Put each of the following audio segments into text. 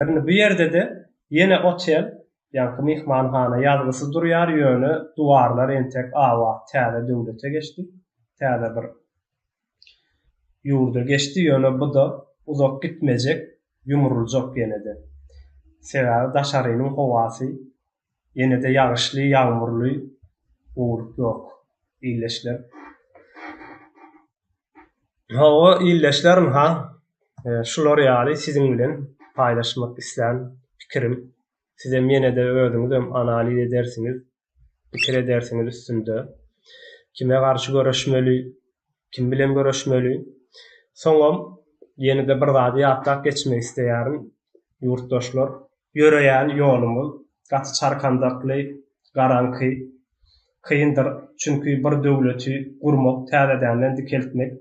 Indi bu ýerde-de ýene otel, ýaňky myhmanhana ýazgysy durýar, ýöne duwarlar entek abat, täze döwlete geçdi, täze bir ýurda geçdi, ýöne bu-da uzak gitmejek, ýumruljak ýene-de. Sebäbi daşarynyň howasy Ýene-de ýagyşly, ýagmurly gurulyk ýok, ildeşler. Hawa, ildeşler, ynha, şular ýaly siziň bilen paýlaşmak islän pikirim. Sizem ýene-de özüňizem analiz edersiňiz, pikir edersiňiz üstünde. Kime garşy göreşmeli? Kim bilen görüşmeli? Soňam ýene-de bir zady ýatlap geçmek isleýärin, ýurtdaşlar. Ýöreýän ýolumyz gaty çarkandakly, garaňky, kyndyr, çünki bir döwleti gurmak, täzedenden dikeltmek,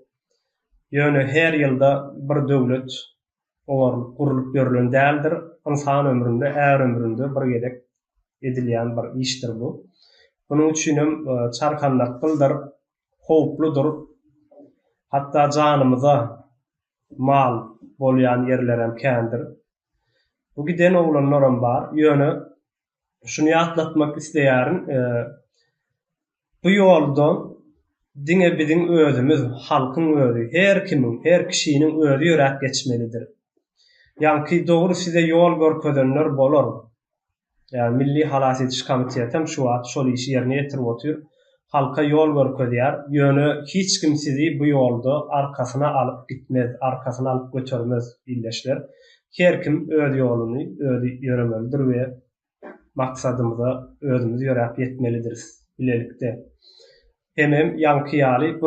ýöne her ýylda bir döwlet oňarylyp, gurlup ýörlen däldir, ynsan ömründe, är ömründe bir gezek edilýän bir işdir bu. Munuň üçinem çarkandakgyldyr, howpludyr, hatda janymyza mal bolýan ýerlerem kändir. Bu giden oglanlaram bar, ýöne şuny ýatlatmak isleýärin, bu ýoldan diňe biziň özümiz, halkyň özi, her kimiň, her kişiniň özi ýöräp geçmelidir. Ýaňky dogry size ýol görkezenler bolar. Ýa Milli halas ediş komitetem şu wagt şol işi ýerine ýetirip otyr. Halka ýol görkezýär. Ýöne hiç kim sizi bu ýolda arkasyna alyp gitmez, arkasyna alyp götermez ildeşler. Her kim öz ýoluny özi ýöremelidir we maksadymyza özümiz ýöräp ýetmelidiris bilelikde. Hemem ýaňky ýaly bu